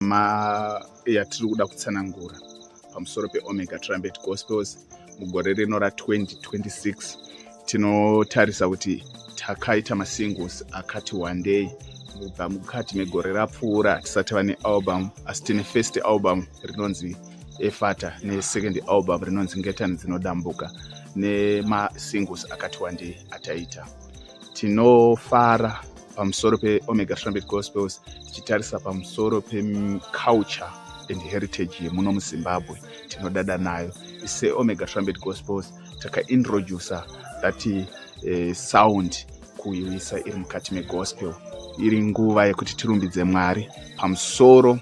ma yatiri kuda kutsanangura pamusoro peomega trumpet gospels mugore rino ra2026 tinotarisa kuti takaita masingles akati wandei kubva mukati megore rapfuura tisati vane album asi tine first album rinonzi efata nesecond album rinonzi ngetani dzinodambuka nemasingles akati wandei ataita tinofara pamusoro peomega trumpet gospels tichitarisa pamusoro peculture and heritage yemuno muzimbabwe tinodada nayo seomega trumpet gospels takaintroducer that uh, sound kuiisa iri mukati megospel iri nguva yekuti tirumbidze mwari pamusoro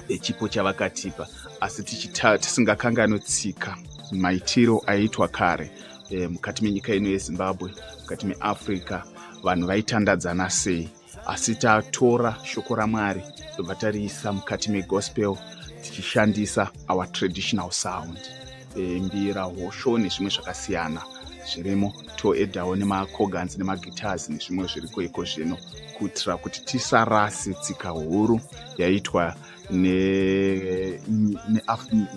pechipo chavakatipa asi tisingakanganwe tsika maitiro aiitwa kare e, mukati menyika ino yezimbabwe mukati meafrica vanhu vaitandadzana sei asi tatora shoko ramwari tobva tariisa mukati megospel tichishandisa our traditional sound e, mbira hosho nezvimwe zvakasiyana zvirimo toedawo nemacoganzi nemagitars nezvimwe zviriko iko zvino kuitira kuti tisarase tsika huru yaitwa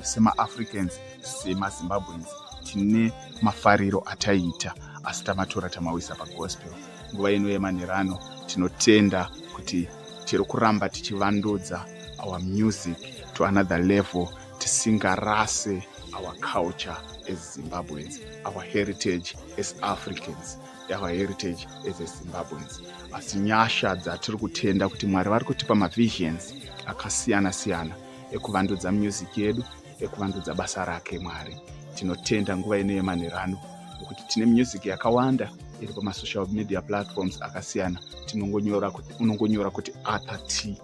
semaafricans semazimbabweans tine mafariro ataiita asi tamatora tamawisa pagospel nguva ino yemanherano tinotenda kuti tiri kuramba tichivandudza our music to another level tisingarase our culture as zimbabweans our heritage as africans our heritage as a zimbabweans asi nyasha dzatiri kutenda kuti mwari vari kutipa mavisions akasiyana siyana ekuvandudza music yedu ekuvandudza basa rake mwari tinotenda nguva ino yemanherano nekuti tine music yakawanda iri pamasocial media platforms akasiyana tinongonyora kuti unongonyora kuti arthur t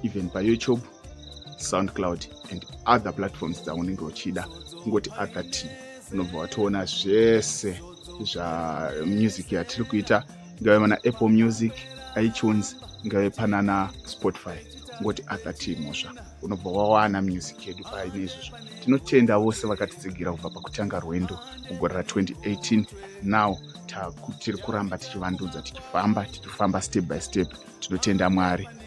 even payoutube soundcloud and other platforms dzaunenge uchida kungoti other t unobva watoona zvese zvamusic yatiri kuita ingave mana apple music itunes ingave panana spotify ngoti other t mhosva unobva wawana music yedu paine izvozvo tinotenda vose vakatitsigira kubva pakutanga rwendo mugore ra 2018 now tiri kuramba tichivandudza tichifamba tichifamba step by step tinotenda mwari